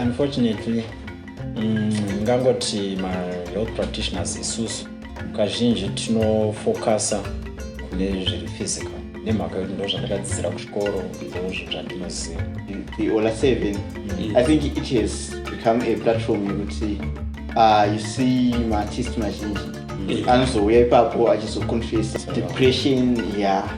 unfortunately mm, ngangoti mm, mahealth practitioners isusu kazhinji tinofocusa kune zviri physical nemhaka yekuti ndo zvandakadzidzira kuchikoro ndozvo zvandinoziva the ola seven mm. i think it has become a platform yekuti uh, you see maartist mazhinji anozouya ipapo achizoconfesa depression ya yeah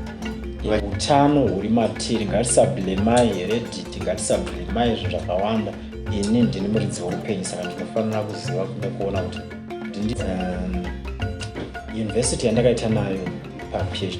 utano huri matiri ngatisablemai here didi ngatisablemai zvinhu zvakawanda ini ndini muridzi weupenyu saka ndinofanira kuziva kuda kuona kuti um, yunivhesiti yandakaita nayo paphd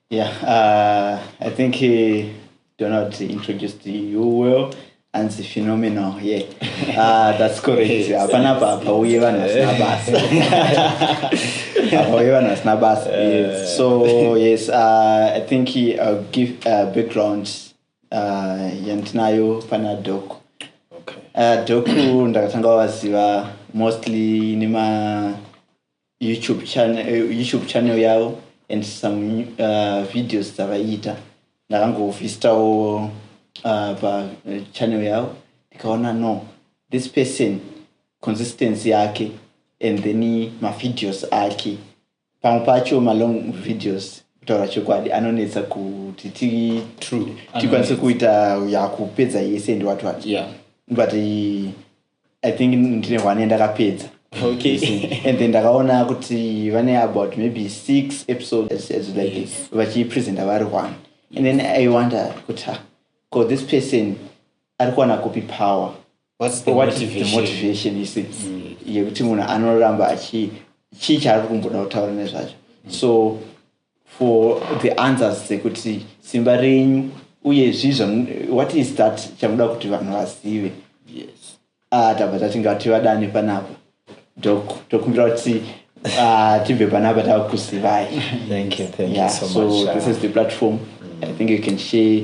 yeah uh, i think uh, donald introduced you well anzi phenomenal ye yeah. uh, that's correct hapana pa pauye vanhu vasina basa pauye vanhu vasina basa so yes uh, i think ill uh, give uh, background uh, yandinayo pana dok okay. uh, doku ndakatanga waziva mostly nema YouTube channel, eh, YouTube channel yavo and some uh, videos dzavaiita ndakangovhistavo uh, pachannel yavo ndikaona no this person consistency yake and then mavideos ake pamwe pacho malong videos kutaura chokwadi anonetsa kuti tikwanise kuita yakupedza yese ndiwatwati yeah. but i think ndine one yandakapedza okay and then ndakaona kuti vane about maybe six episodes as like yes. vachipresenta vari one and then i wonder kuti ha ko this person ari kuwana kupi power whats the what motivation, the motivation is it mm. yekuti munhu anoramba achi chii chaari kumboda kutaura nezvacho mm. so for the answers dzekuti simba renyu uye zvii what is that chamuda kuti vanhu vazive yes ah tabva tatinga kuti vadane panapa dok tokumbira kuti ah, tibve panapa takuzivai thank you thank yeah, you so, so much, this is the platform mm. i think you can share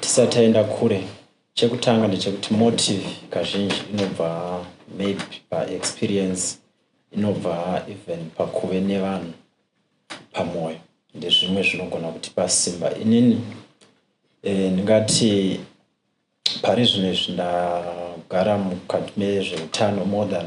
Tisati taenda kure, chekutanga ndechekuti motive kazhinji inobva maybe paexperience inobva even pakuve nevanhu pamwoyo ndezvimwe zvinogona kutipa simba inini eh, ndingati pari zvino izvi ndagara mukati mezveutano more than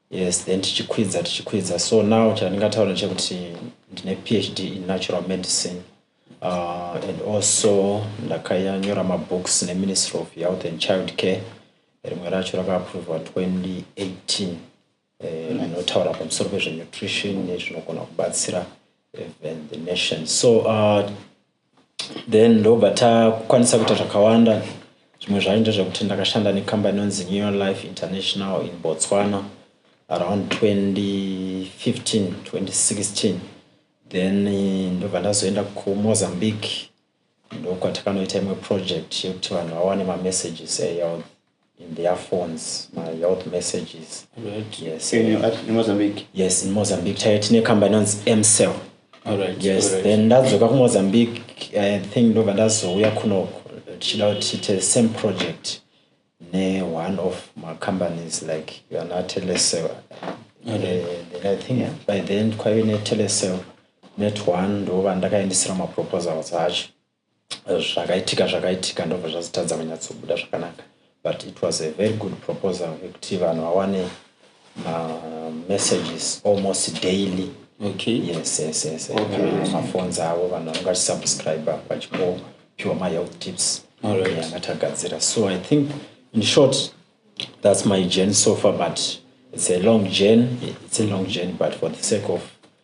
Yes then tichikwidza tichikwidza so now chandingataura chekuti ndine phd in natural medicine uh, and also ndakanyora mabooks neministry of health and child care rimwe racho rakaaprovwa 2018 rinotaura eh, pamusoro pezvenutrition nezvinogona kubatsira even the nation so uh, then ndobva takukwanisa kuita zvakawanda zvimwe zvacho ndezvekuti ndakashanda nekambani inonzi new life international in botswana around 2015 2016 then eh, ndobva ndazoenda kumozambique ndokwatinoita imwe project yekuti vanhu vawane mamessages ehealth in their phones my health messages right. yes, in, uh, in mozambique yes in mozambique chaiyo tine kamba inonzi mcell right. yes right. then ndadzoka kumozambique i think ndobva ndazouya kunoko tichida kuti tiite same project ne one of macompanies like ana telecell right. uh, eh, i think yeah. by then kwaive netelecell net one ndova ndakaendesera maproposals acho zvakaitika zvakaitika ndobva zvazotadza kunyatsobuda zvakanaka but it was a very good proposal yekuti vanhu vawane mamessages almost daily okay. yes yes yes maphones okay. avo vanhu vanenge vachisubscribe vachipiwa mahealth tips angati agadzira so i think in short that's my journey so far but it's a long journey it's a long journey but for the sake of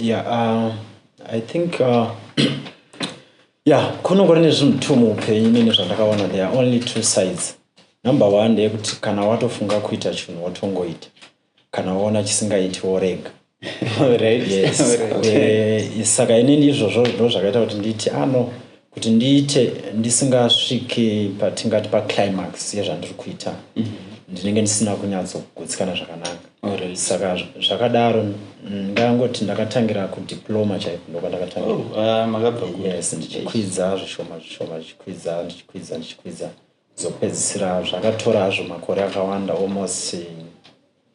yeah uh, i think uh, yeah kunongori nezvinhu two muupenyu nene zvandakaona there are only two sides number one ndeyekuti kana watofunga kuita chinhu wotongoita kana waona chisingaiti worega right yes eh, saka inini izvozvo ndo zvakaita kuti nditi ano ah, kuti ndiite ndisingasvike patingati paclimax yezvandiri kuita mhm. ndinenge ndisina kunyatsogutsikana zvakanaka saka zvakadaro ndangoti ndakatangira kudiploma chaiko ndokwandakatangirayes oh, ah, ndichikwidza zvishoma zvishoma ndichikwidza ndichikwidza ndichikwidza zokupedzisira zvakatora hazvo makore akawanda almost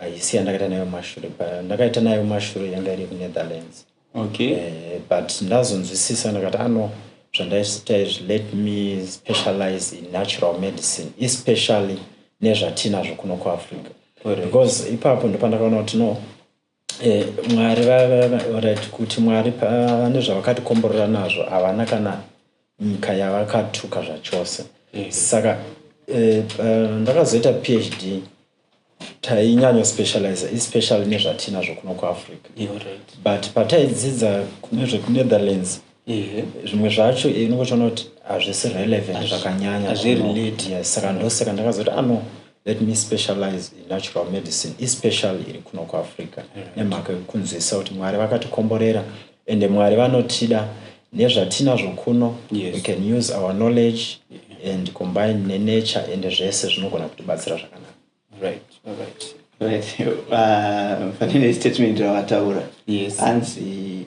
haisi yandakaita nayo mashure ndakaita nayo mashure yanga iri kunetherlands okay uh, but ndazonzwisisa ndakati ano ah, zvandaita izvi let me specialize in natural medicine especially nezvatinazvo kuno kuafrica because ipapo ndopandakaona kuti no Eh, mwari vaorit kuti mwari vane zvavakatikomborera nazvo havana kana nyika yavakatuka zvachose mm. saka eh, eh, ndakazoita uh, phd tainyanya specialize especially nezvatinazvo kuno kuafrica right. but pataidzidza nezvekunetherlands ehe zvimwe zvacho ini kuchiona kuti hazvisi relevant zvakanyanya hazvirelate yes saka ndosaka ndakazoti ano ah, let me specialize in natural medicine especially iri kuno kuafrica nemhaka yekunzwisisa kuti mwari vakatikomborera ende mwari vanotida nezvatinazvo kuno yes. we can use our knowledge yeah. and combine nenature ende zvese zvinogona kutibatsira zvakanaka right. right. right. uh, fanine statement ravataura yes. hanzi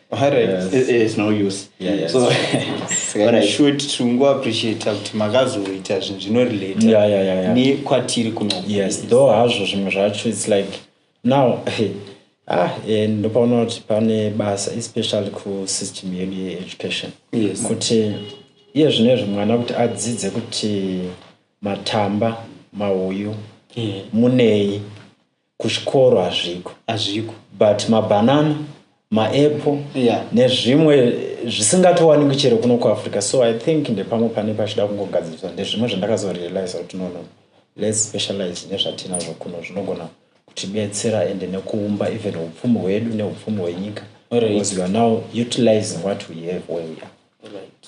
kuti makazoita zvinhu zvinorelatenkwatiri kunodo hazvo zvimwe zvacho its like now ah eh, ndopaona kuti pane basa especially kusystem yedu yeeducation kuti iye zvine zve mwana kuti adzidze kuti matamba mahuyu munei kuzvikoro hazviko hazviko but mabanana maapple yeah. nezvimwe zvisingatowanikwi chero kuno kuafrica so i think ndepamwe pane pachida kungogadziriswa ndezvimwe zvandakazorealiza kuti nono lets specialize nezvatinazvo kuno zvinogona kutibetsera ende nekuumba even upfumi hwedu neupfumi hwenyika because right. you are now utilizing what we have where we are right.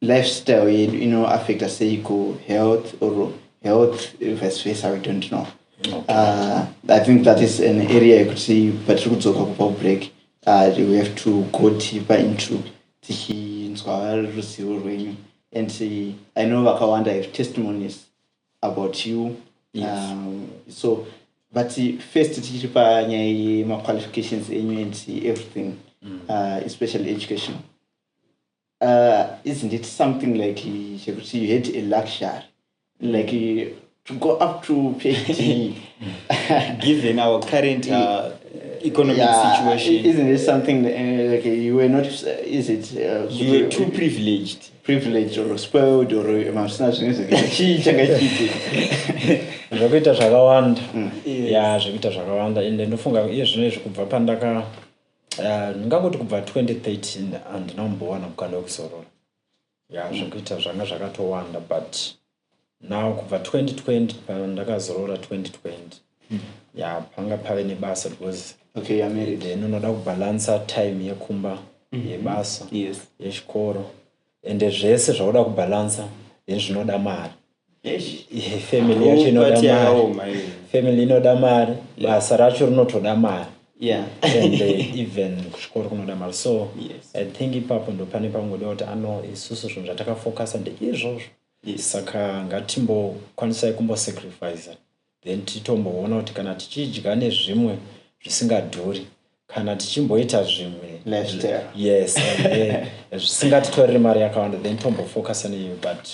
lifestyle yedu ino affecta sei ku health or health vice versa we don't know okay. uh, i think that is an area yekuti patiri kudzoka kubva kubreak uh, we have to go deeper into tichinzwa ruzivo rwenyu and uh, i know vakawanda have testimonies about you yes. um, so but first tichiri panyaya yemaqualifications enyu and everything mm. uh, especially educational uh, isn't it something like chekuti you had a luxury like to go up to phd given our current uh, economic yeah, situation isn't it something uh, like you were not uh, is it uh, you were too privileged privileged or spoiled or masina zvine zvechii changa chipi zvekuita zvakawanda mm. ya zvekuita zvakawanda ende ndofunga iye zvino izvi kubva pandaka Ah, ndingangoti kubva 2013 handina kumbowana mukana wekuzorora ya zvekuita zvanga zvakatowanda but now kubva 2020 pandakazorora 2020 ya panga pave nebasa because okay you're married then unoda kubalansa time yekumba yebasa yes yechikoro ende zvese zvauda kubalancer then zvinoda mari family yacho inoda mari family inoda mari basa racho rinotoda mari yeah. and uh, even kuchikoro kunoda mari so yes. i think ipapo ndo pane pangoda kuti ano isusu zvinhu zvatakafocusa ndeizvozvo yes. saka ngatimbokwanisai kumbosacrifice then titomboona kuti kana tichidya nezvimwe zvisingadhuri kana tichimboita zvimwe yes zvisingatitorere mari yakawanda then tombofocusa neiyo but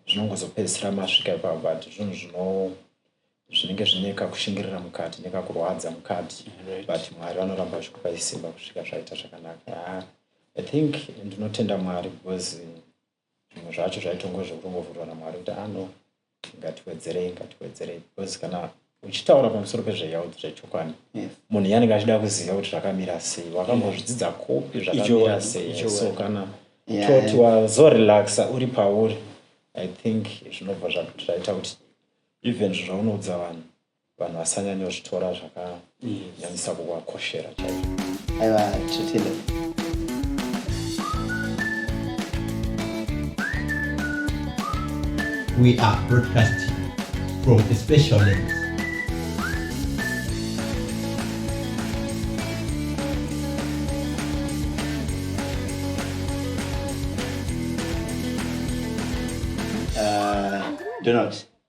zvinongozopedzisira masvika ipapo but zvinhu zvino zvinenge zvine kakushingirira mukati nekakurwadza mukati but mwari vanoramba vachikupa isimba kusvika zvaita zvakanaka i think ndinotenda mwari because zvimwe zvacho zvaitongove zvekungovhurwa namwari kuti ah no ngatiwedzerei ngatiwedzerei because kana uchitaura pamusoro pezvehealth zvechokwani munhu iye anenge achida kuziva kuti zvakamira sei wakambozvidzidza kupi zvakamira sei so kana toti wazorelaxa uri pauri i think zvinobva zvaita kuti even zvaunoudza vanhu vanhu vasanyanyozvitora zvakanyanyisa kuvakoshera chaizvo aiwa tsvitile we are broadcasting from a special lens uh, Donald.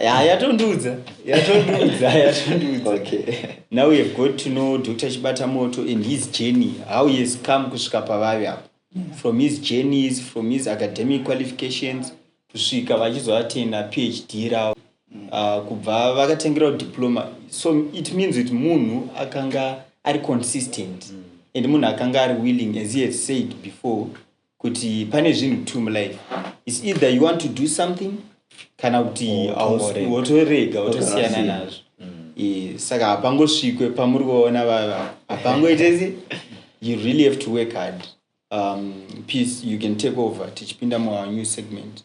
Yeah, yatondiudza yatondiudza yatondiudza okay. now we have got to know dr chibata moto and his journey how he has come kusvika pavave apo from his journeys from his academic qualifications kusvika vachizoatenda phd ravo uh, kubva vakatengerawo diploma so it means kuti munhu akanga ari consistent and munhu akanga ari willing as he has said before kuti pane zvinhu two mulife its either you want to do something kana kuti wotorega wotosiyana nazvo mm. saka hapangosvikwe pamuri kuvaona vava hapangoitese you really have to work hard um, peace you can take over tichipinda munew segment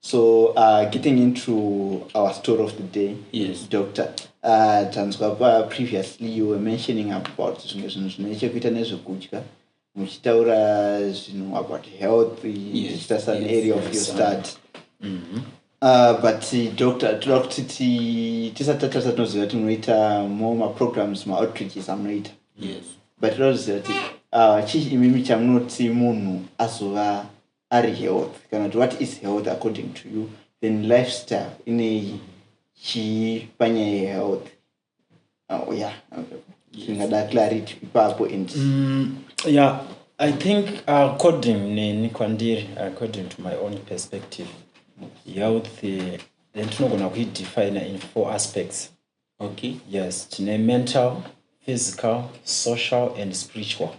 so uh, getting into our story of the day yes. doctor uh, tanzwa pa previously you were mentioning about zvimwe zvinhu zvine chekuita nezvekudya muchitaura zvinhu about health ichiita yes, some yes, area of your start mm -hmm. Uh, but uh, doctor toda kuti tisati tatasa tinoziva kuti munoita more maprograms maoutreaches amunoita yes. but toda kuziva kuti uh, chii imimi chamunoti munhu azova ari health kana kuti what is health according to you then lifestyle ineyi chii panyaya yehealth oh, ya ingada clarity ipapo and mm, ya i think according neni kwandiri according to my own perspective health then tinogona kuidefina in four aspects okay yes tine mental physical social and spiritual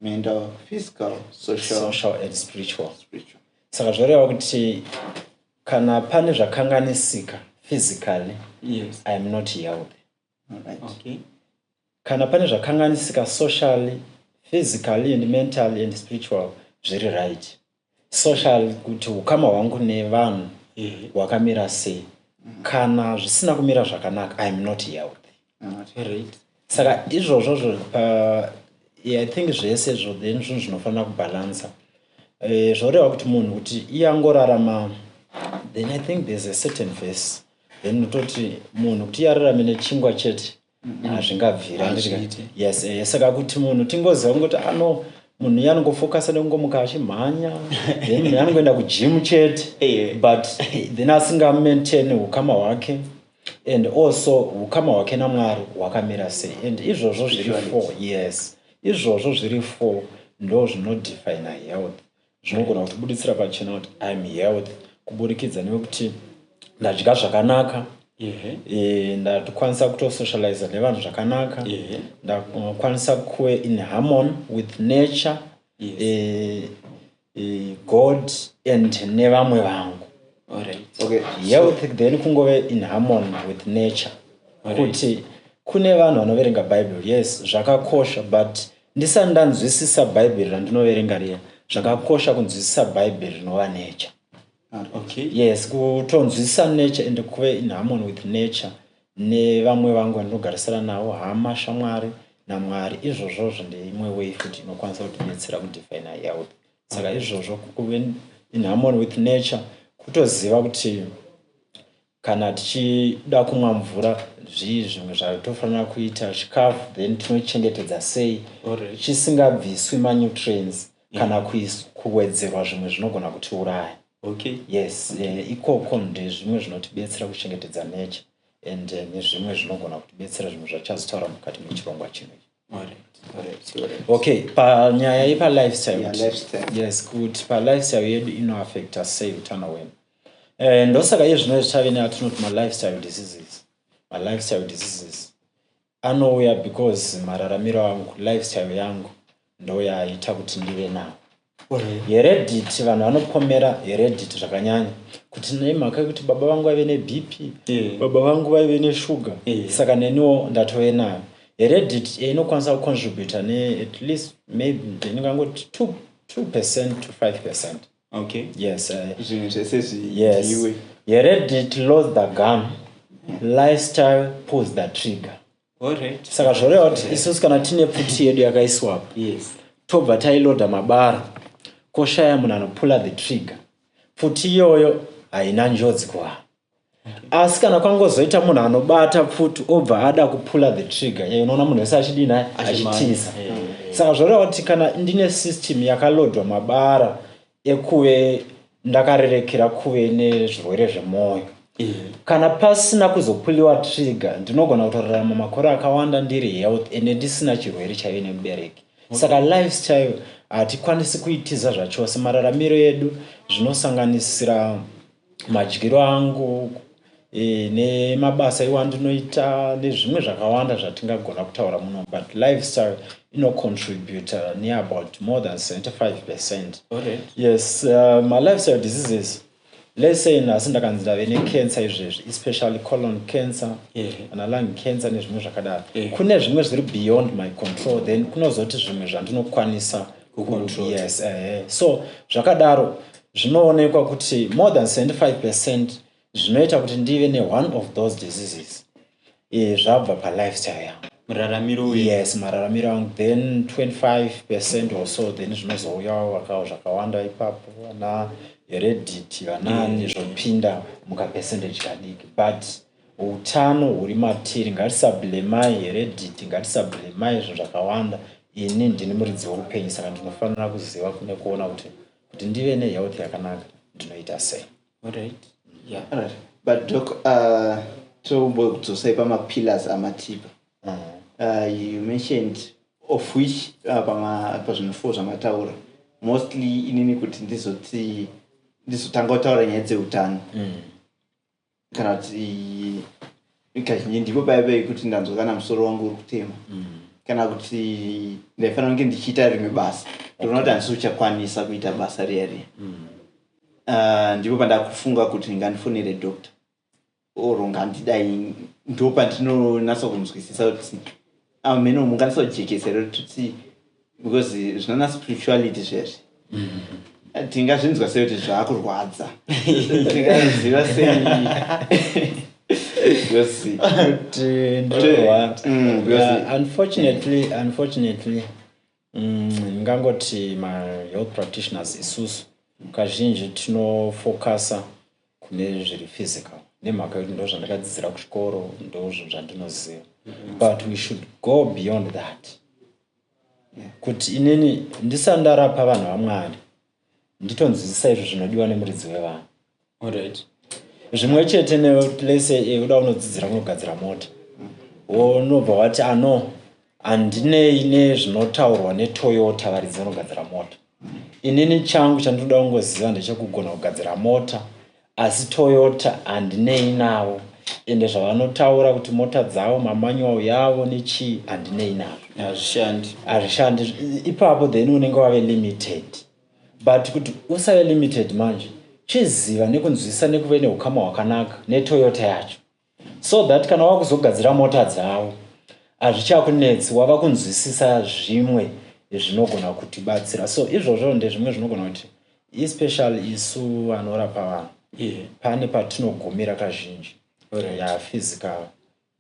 mental physical social, social and spiritual, spiritual. saka zvoreva kuti kana pane zvakanganisika physically yes. i am not healthy right. okay. kana pane zvakanganisika socially physically and mentally and spiritual zviri right social kuti ukama hwangu nevanhu mhm. hwakamira sei mhm. kana zvisina kumira zvakanaka iam not healthy saka izvozvo zvo uh, i think zvese zvo then zvinhu zvinofanira kubhalansa eh, zvoreva kuti munhu kuti iye angorarama then i think there's a certain verse then utoti munhu kuti iye ararame nechingwa chete hazvingabvira yes eh, saka kuti munhu tingoziva kungoti ano ah, munhu iye anongofokasa nekungomuka achimhanya then munhu anongoenda kujimu chete eh. but then asingamaintain ukama hwake and also ukama hwake namwari hwakamira sei and izvozvo zviri four yes izvozvo zviri four ndo zvinodefina health zvinogona kutibuditsira pachena kuti iam health kuburikidza nekuti ndadya zvakanaka eh, ndakwanisa kutosocializa nevanhu zvakanaka ndakwanisa kuve in harmon with nature yes. eh, eh, god and nevamwe vangu okay. health so, then kungove in harmon with nature kuti right. kune vanhu vanoverenga bible yes zvakakosha but Ndisati ndanzwisisa Bhaibheri randinoverenga riya, zvakakosha kunzwisisa Bhaibheri rinova nature. Ah, okay. Yes, kutonzwisisa nature and kuve in harmony with nature nevamwe vangu vandinogarisana navo, hama, shamwari naMwari. Izvozvo zvine imwe way futi inokwanisa kutibetsera kudefina health. Saka izvozvo kuve in harmony with nature kutoziva kuti Kana tichida kumwa mvura zvii zvimwe zvatofanira kuita chikafu then tinochengetedza sei chisingabviswi manutrients kana kuwedzerwa zvimwe zvinogona kutiuraya okay yes eh, ikoko ndezvimwe zvinotibetsera kuchengetedza nature and eh, nezvimwe zvinogona kutibetsera zvimwe zvachazotaura mukati mechirongwa chino okay panyaya yepalifestyle yes kuti palifestyle yedu inoaffecta sei utano hwedu eh, ndosaka iye zvino zvichave neatinoti malifestyle diseases malifestyle diseases anouya because mararamiro angu lifestyle yangu ndoyaita kuti ndive nawo Heredity vanhu vanopomera heredity zvakanyanya kuti nemhaka yekuti baba vangu vaive nebp yeah. baba vangu vaive neshuga yeah. saka neniwo ndatove nayo heredity eh, inokwanisa kucontributa ne at least maybe ndingangoti two, two percent to five percent okay. yes eh. zvinhu uh, zvese zviiwe yes. heredity loads the gun lifestyle pulls the trigger Alright. Saka zvoreva kuti isusu kana tine pfuti yedu yakaiswa apa. Yes. Tobva tailoda mabara. Koshaya munhu anopula the trigger. Pfuti iyoyo haina njodzi kuvanhu. Asi kana kwangozoita munhu anobata pfuti obva ada kupula the trigger. Yeye unoona munhu wese achidii naye achitiza. Saka zvoreva kuti kana ndine system yakalodwa mabara yekuve ndakarerekera kuve nezvirwere zvemwoyo mm. kana pasina kuzopuliwa trigger ndinogona kutorarama makore akawanda ndiri health ende ndisina chirwere chaive nemubereki okay. saka lifestyle hatikwanisi kuitiza zvachose mararamiro edu zvinosanganisira madyiro angu e, nemabasa iwo andinoita nezvimwe zvakawanda zvatingagona kutaura muno but lifestyle inocontributa neabout more than 75 percent yes uh, malifestyle diseases lesen asi ndakanzi ndave necancer izvezvi especially colon cancer kana lung cancer nezvimwe zvakadaro kune zvimwe zviri beyond my control then kunozoti zvimwe zvandinokwanisa yes eh, eh. so zvakadaro zvinoonekwa kuti more than 75 percent zvinoita kuti ndive neone of those diseases e, zvabva palifestyle yangu muraramiro uyu yes mararamiro angu then 25 percent or so then zvinozouyawo vakawo zvakawanda ipapo vana heredity vanani mm. zvopinda mukapercentage kadiki but utano huri matiri ngatisablemai heredity ngatisablemai zvinhu zvakawanda ini ndini muridzi weupenyu saka ndinofanira kuziva kune kuona kuti kuti ndive nehealth yakanaka ndinoita sei right. yeah. right. but doc uh, tombodzosa pamapillars amatipa uh -huh. Uh, you mentioned of which uh, pazvinhu four zvamataura mostly inini kuti ndizoti ndizotanga kutaura nyaya dzeutano mm. kana kuti kazhinji ndipo paya pekuti ndanzwa kana musoro wangu uri kutema mm. kana kuti ndaifanira kunge ndichiita rimwe basa ndoona kuti handisi uchakwanisa kuita basa riya riya mm. ah, ndipo pandakufunga kuti ngandifonere doctor or ngandidai ndo pandinonatsa kunzwisisa kuti amene ah, mungatisojekesere kuti because zvinana spirituality zvese mm-hmm. tingazvinzwa sei kuti zvaakurwadza tingaziva sei mm, unfortunately unfortunately Mm, ndingangoti mm, mahealth practitioners isusu kazhinji tinofokasa kune zviri physical nemhaka yekuti ndo zvandakadzidzira kuchikoro ndo zvinhu zvandinoziva mm-hmm. but we should go beyond that kuti inini ndisandarapa vanhu vamwari nditonzwisisa izvo zvinodiwa nemuridzi wevanhu olright zvimwe chete neplace yekuda eh, unodzidzira kunogadzira mota wonobva wati ano handinei nezvinotaurwa netoyota varidzi vanogadzira mota inini changu chandinoda kungoziva ndechekugona kugadzira mota Asi Toyota handinei navo ende zvavanotaura kuti mota dzavo mamanual yavo nechii handinei navo. Hazvishandi. Hazvishandi ipapo then unenge wave limited. But kuti usave limited manje chiziva nekunzwisisa nekuve neukama hwakanaka neToyota yacho. so that kana wava kuzogadzira mota dzavo hazvichakunetsi wava kunzwisisa zvimwe zvinogona kutibatsira so izvozvo ndezvimwe zvinogona kuti especially isu vanorapa vanhu yeah. pane patinogumira kazhinji right. ya physical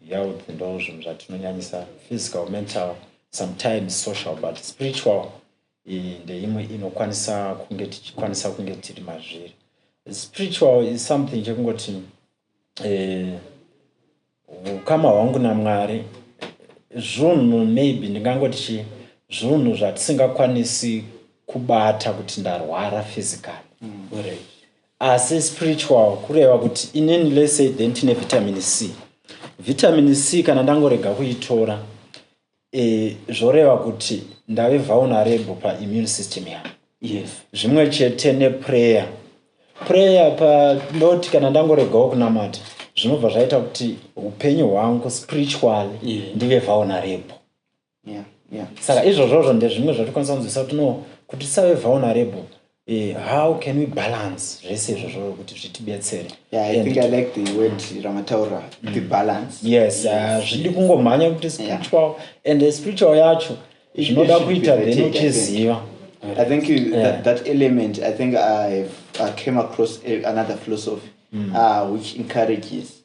health ndo zvinhu zvatinonyanyisa physical mental sometimes social but spiritual ndeimwe inokwanisa kunge tichikwanisa kunge tiri mazviri spiritual is something chekungoti hukama eh, hwangu namwari zvunhu maybe ndingangoti chii zvunhu zvatisingakwanisi kubata kuti ndarwara physically mm. asi spiritual kureva kuti inini lese then tine vitamin c vitamin c kana ndangorega kuitora e, zvoreva kuti ndave vulnerable paimmune system yangu yes. zvimwe chete neprayer prayer pa ndoti kana ndangoregawo kunamata zvinobva zvaita kuti upenyu hwangu spiritually yeah. ndive vulnerable yeah. yeah. saka izvozvozvo ndezvimwe zvatokwanisa kunzwisa kuti no kuti tisave vulnerable Eh, how can we balance zvese izvozvo kuti zvitibetsere yeah, i think i like the word ramataura mm. the balance yes ah, zvidi uh, kungomhanya kuti spiritual yeah. and the spiritual yacho zvinoda kuita then uchiziva i think you, yeah. that, that element i think i, have, I came across another philosophy mm. uh, which encourages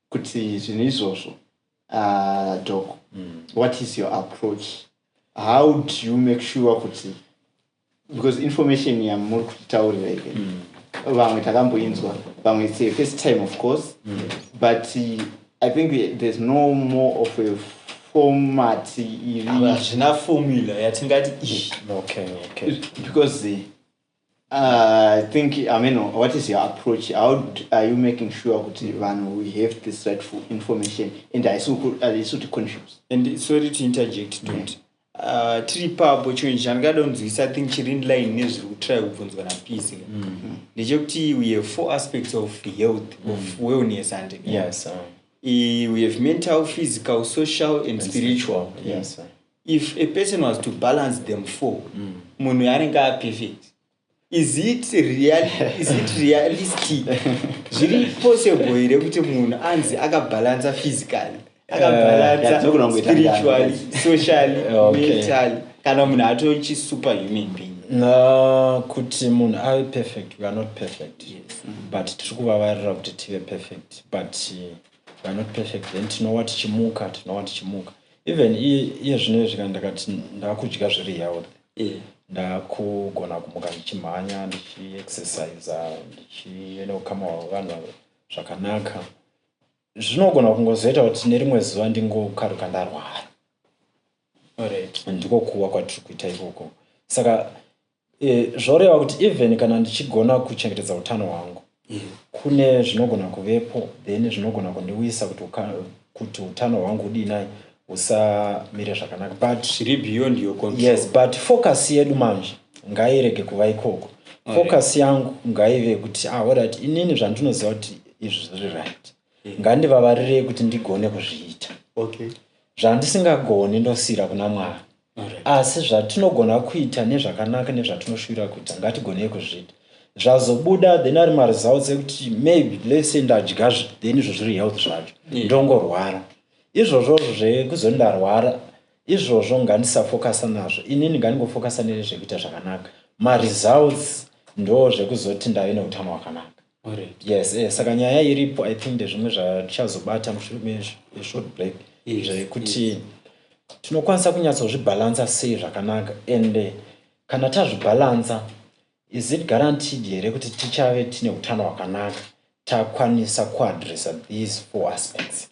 kuti zvinhu izvozvo uh, doc mm. what is your approach how do you make sure kuti because information yamuri kutitaurira ive mm. vamwe takamboinzwa vamwe it's a first time of course mm. but uh, i think there's no more of a format iri hazvina formula yatingati because uh, Uh, I think, I mean, what is your approach? How are you making sure that mm. we have this rightful information and I saw to confuse? And sorry to interject, don't. Yeah. Uh, tiri papo chinhu chandikadonzwisa i think chiri inline nezviri kutry kubvunzwa napisi mm-hmm. ndechekuti we have four aspects of health mm. of wellness and yes, uh. we have mental physical social and, and spiritual, spiritual. Yes, if a person was to balance them four mm. munhu mm. anenge aperfect is it, real, is it realistic zviri possible here kuti munhu anzi akabalansa physically akabalansa uh, spiritually socially okay. mentally kana munhu atochi super human being no, kuti munhu ave perfect we are not perfect yes. mm -hmm. but tiri kuvavarira kuti tive perfect but uh, we are not perfect then tinowa tichimuka tinowa tichimuka even iye zvino izvi kana ndakati ndakudya zviri health yeah. ndakugona kumuka ndichimhanya ndichiexercise ndichienokamawa vanhu zvakanaka zvinogona kungozoita kuti nerimwe zuva ndingokaruka ndarwara ndiko kuwa kwatiri kuita ikoko saka Eh, zvoreva kuti even kana ndichigona kuchengetedza utano hwangu yeah. kune zvinogona kuvepo then zvinogona kundiwisa kuti kuti utano hwangu udii nai usamire zvakanaka but zviri beyond your control yes but focus yedu manje ngairege kuva ikoko focus yangu ngaive kuti ah orit inini zvandinoziva kuti izvi zviri right yeah. ngandivavarirei kuti ndigone kuzviita okay zvandisingagoni ndosiyira kuna mwari Asi zvatinogona kuita nezvakanaka nezvatinoshuvira kuita ngatigonei kuzviita zvazobuda then ari maresults ekuti maybe let's say ndadya then izvo zviri health zvacho ndongorwara izvozvo zvekuzo ndarwara izvozvo ngandisafokasa nazvo inini ngandingofokasa nezvekuita zvakanaka maresults ndo zvekuzoti ndave neutano hwakanaka yes eh, saka nyaya iripo i think ndezvimwe zvatichazobata mushure meshort break zvekuti tinokwanisa kunyatsozvibhalansa sei zvakanaka and eh, kana tazvibhalansa is it guaranteed here kuti tichave tine utano hwakanaka takwanisa kuadressa these four aspects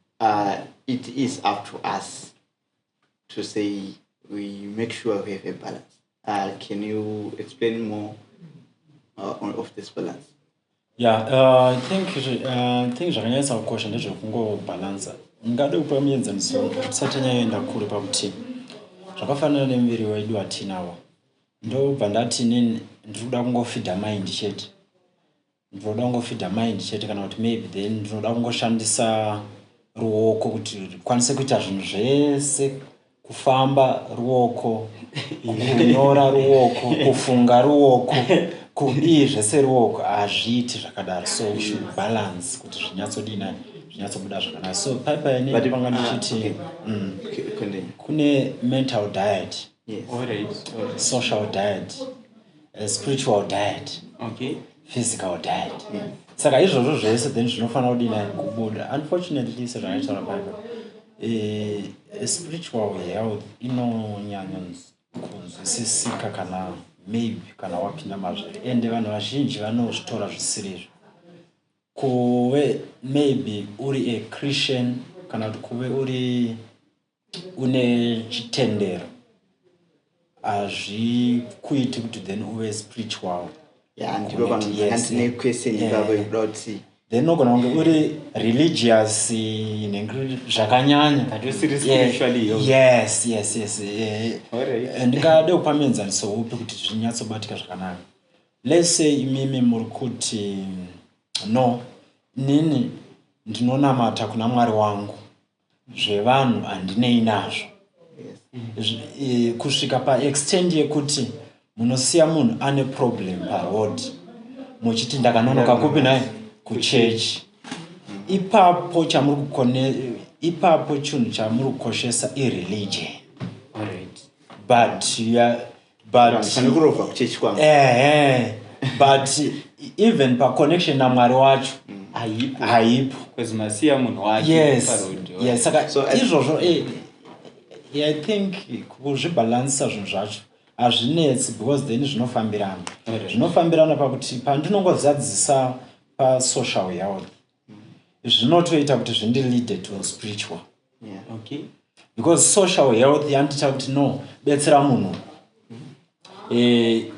Uh, it is up to us to say we make sure we have a balance. Uh, can you explain more uh, on, of this balance? Yeah, uh, I think uh, I think zvakanyanyisa kukosha ndezvekungobalansa. Ungade kupa muenzaniso tisati tanyaenda kure pakuti zvakafanana nemuviri wedu watinawo ndobva ndati nini ndiri kuda kungofidha maindi chete ndinoda kungofidha mind chete kana kuti maybe then ndinoda kungoshandisa ruoko kuti rikwanise kuita zvinhu zvese kufamba ruoko kunyora ruoko kufunga ruoko kudii zvese ruoko hazviiti zvakadaro so we should balance kuti zvinyatsodii nani zvinyatsobuda zvakanaka so paipainei panga ah, ndichiti mm, kune mental diet social diet A spiritual diet okay physical diet yeah. saka izvozvo zvese then zvinofanira kudina kubuda unfortunately sezvanotaura pano eh, spiritual health inonyanya kunzwisisika kana maybe kana wapinda mazviri ende vanhu vazhinji vanozvitora zvisirizvo kuve maybe uri a christian kana kuti kuve uri une chitendero hazvikuiti kuti then uve spiritual ya ndipo vanhu Yes, vakandine yeah. question Yeah. ipapo ikuda kuti then unogona kunge uri religious in a gr- zvakanyanya But usiri Yeah. spiritually healthy. yes yes yes eh, Alright. eh, ndingade kupa muenzaniso upi kuti zvinyatsobatika zvakanaka let's say imimi muri kuti no nini ndinonamata kuna mwari wangu zvevanhu handinei nazvo eh, kusvika paextend yekuti munosiya munhu ane problem paroad muchiti ndakanonoka kupi naye kuchechi ipapo chamuri kukone ipapo chinhu chamuri kukoshesa ireligion but butkurova kuchechi kwangu ehe but even paconnection namwari wacho mm. haipo haipo masiya munhu wakeyesak izvozvo eh, i think kuzvibalanisa zvinhu zvacho hazvinetsi because then zvinofambirana zvinofambirana pakuti pandinongozadzisa pasocial health zvinotoita kuti zvindilide to spiritual yeah. okay. because social health yandita kuti no betsera munhu eh,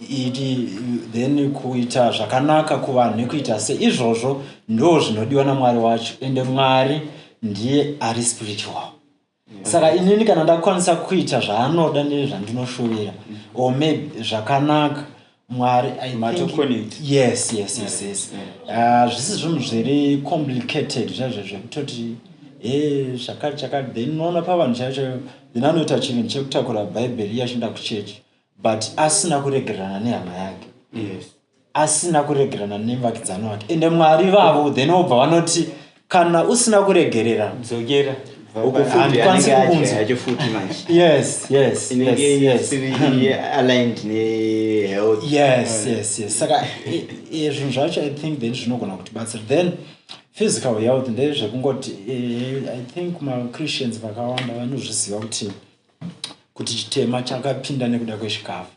iti then kuita zvakanaka kuvanhu nekuita se izvozvo ndo zvinodiwa namwari wacho ende mwari ndiye ari spiritual saka inini kana ndakwanisa kuita zvaanoda nezvandinoshuwira or maybe zvakanaka mwari yes yes yes yes ah, zvisi uh, zvinhu zviri complicated zvaizvo zvekutoti e zvakati chakati then unoona pavanhu chaivo chaivo then anoita chinhu chekutakura bhaibheri iye achinda kuchechi but asina kuregerana nehama yake yes asina kuregerana nemuvakidzani wake ende mwari vavo then obva vanoti kana usina kuregerera dzokera saka zvinhu zvacho i think then zvinogona kuti batsira then physical health ndezvekungoti eh, i think machristians vakawanda vanozviziva kuti kuti chitema chakapinda nekuda kwechikafu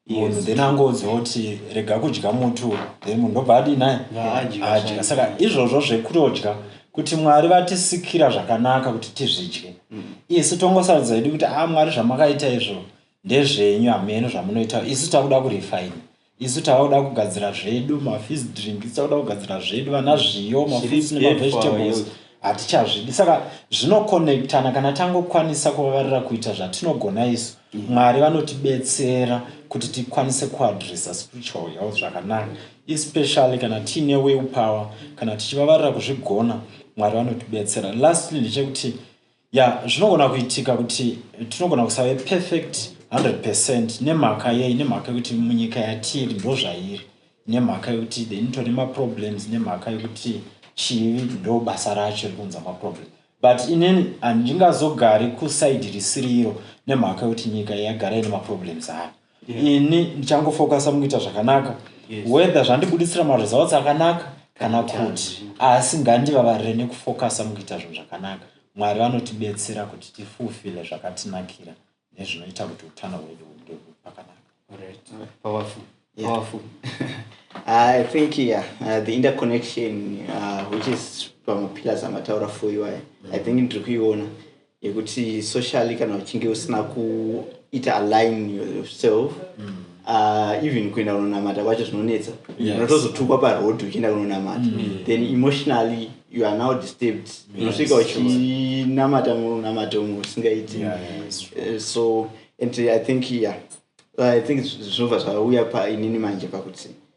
munhu then angonzwa kuti rega kudya mutu then munhu ndobva adii naye adya saka izvozvo zvekurotya kuti mwari vatisikira zvakanaka kuti tizvidye mm. isu tongosarudza idi kuti a ah, mwari zvamakaita izvo ndezvenyu hameno zvamunoita isu takuda kurifaina Isu tavakuda kugadzira zvedu mafees drink isu takuda kugadzira zvedu vana zviyo mafees nemavegetables hatichazvidi saka zvinokonectana kana tangokwanisa kuvavarira kuita zvatinogona isu mm. mwari vanotibetsera kuti tikwanise kuadressa spiritual health zvakanaka especially kana tiine will power kana tichivavarira kuzvigona mwari vanotibetsera lastly ndechekuti ya yeah, zvinogona kuitika kuti tinogona kusave perfect 100 percent nemhaka yei nemhaka yekuti munyika yatiri ndo zvairi nemhaka yekuti then tone maproblems nemhaka yekuti chivi ndo basa racho rikunza maproblem but inini handingazogari kusaidi risiriro nemhaka yekuti nyika yagara ine maproblems ayo ini ndichangofocusa mukuita zvakanaka whether zvandibuditsira maresults akanaka kana kuti asi ngandivavarire nekufocusa mukuita zvinhu zvakanaka mwari vanotibetsera kuti tifulfile zvakatinakira nezvinoita kuti utano hwedu hunge pakanaka I think yeah, uh, the interconnection uh, which is pamapillars amataura for you I, I think ndiri kuiona yekuti socially kana uchinge usina kuita align yourself mm. uh, even kuenda kunonamata kwacho zvinonetsa unotozotukwa yes. paroad uchienda kunonamata mm. then emotionally you are now disturbed unosvika yes, uchinamata munamata umwe usingaiti yeah, yeah, uh, eh, so and i think yeah i think zvinobva zvauya painini manje pakuti